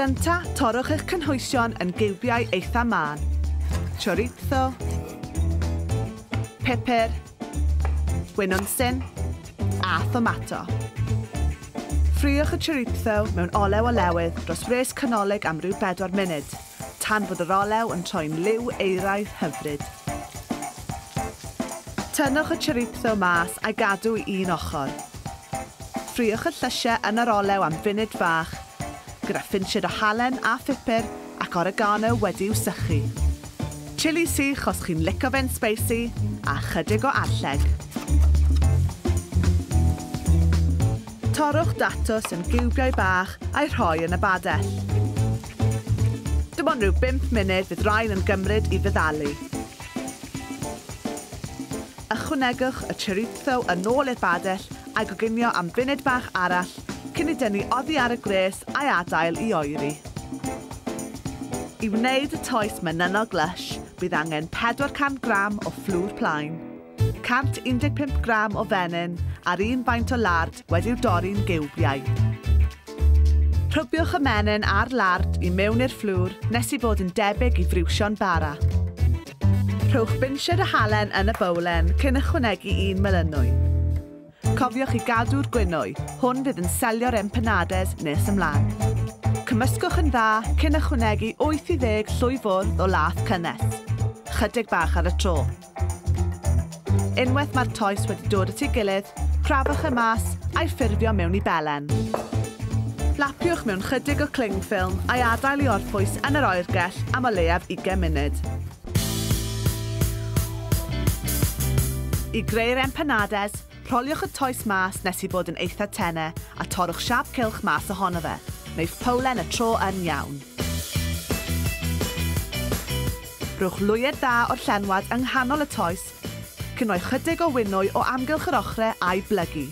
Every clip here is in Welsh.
Gynta, torrwch eich cynhwysion yn giwbiau eitha mân. Chorizo. Pepper. Wenonsen. A thomato. Ffriwch y chorizo mewn olew o lewydd dros wres canolig am ryw 4 munud. Tan fod yr olew yn troi'n liw euraidd hyfryd. Tynnwch y chorizo mas a'i gadw i un ochr. Ffriwch y llysiau yn yr olew am funud fach, gyda phinsied o halen a phupur ac oregano wedi'u sychu. Chili sych os chi'n lico fe'n sbeisi, a chydig o arlleg. Torrwch datws yn giwbiau bach a'i rhoi yn y badell. Dim ond rhyw bump munud fydd rhain yn gymryd i feddalu. Ychwanegwch y chorizo yn ôl i'r badell a goginio am funud bach arall cyn i dynnu oddi ar y gwres a'i adael i oeri. I wneud y toes menynol glysh, bydd angen 400 gram o fflwr plaen. 115 gram o fenyn a'r un faint o lard wedi'w dorri'n giwbiau. Rhybiwch y menyn a'r lard i mewn i'r fflwr nes i fod yn debyg i friwsion bara. Rhowch binsied o halen yn y bowlen cyn ychwanegu un melynwy. Cofiwch i gadw'r gwinwy, hwn fydd yn selio'r empanades nes ymlaen. Cymysgwch yn dda cyn ychwanegu 80 llwy fwrdd o lath cynnes, chydig bach ar y tro. Unwaith mae'r toes wedi dod at ei gilydd, crafwch e mas a'i ffurfio mewn i belen. Lapiwch mewn chydig o cling ffilm a'i adael i orffwys yn yr oergell am o leiaf 20 munud. I greu'r empanades, Rholiwch y toes mas nes i fod yn eitha tene a torrwch siâp cylch mas ohono fe. Wnaiff powlen y tro yn iawn. Rhowch lwyed dda o'r llenwad yng nghanol y toes, cyn rhoi chydig o winwy o amgylch yr ochre a'i blygu.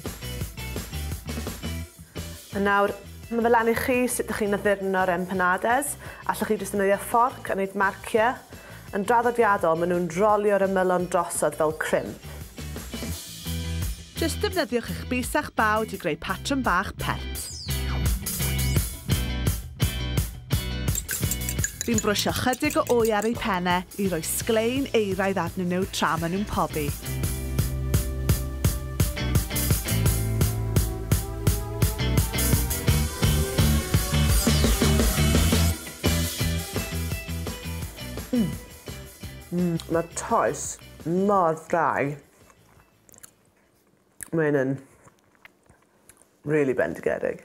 A nawr, ma' fe lan i chi sut dych chi'n addurno'r empanades. Allwch chi jyst ddefnyddio fforc a neud marcie. Yn draddodiadol, maen nhw'n rolio'r ymylon drosodd fel crimp. Jyst defnyddiwch eich bys a'ch bawd i greu patrwm bach pert. Fi'n brwsio chydig o wy ar eu pennau i roi sglein euraidd arnyn nhw tra maen nhw'n pobi. Mae toes mor ddrau. Mae hyn yn really bendigedig.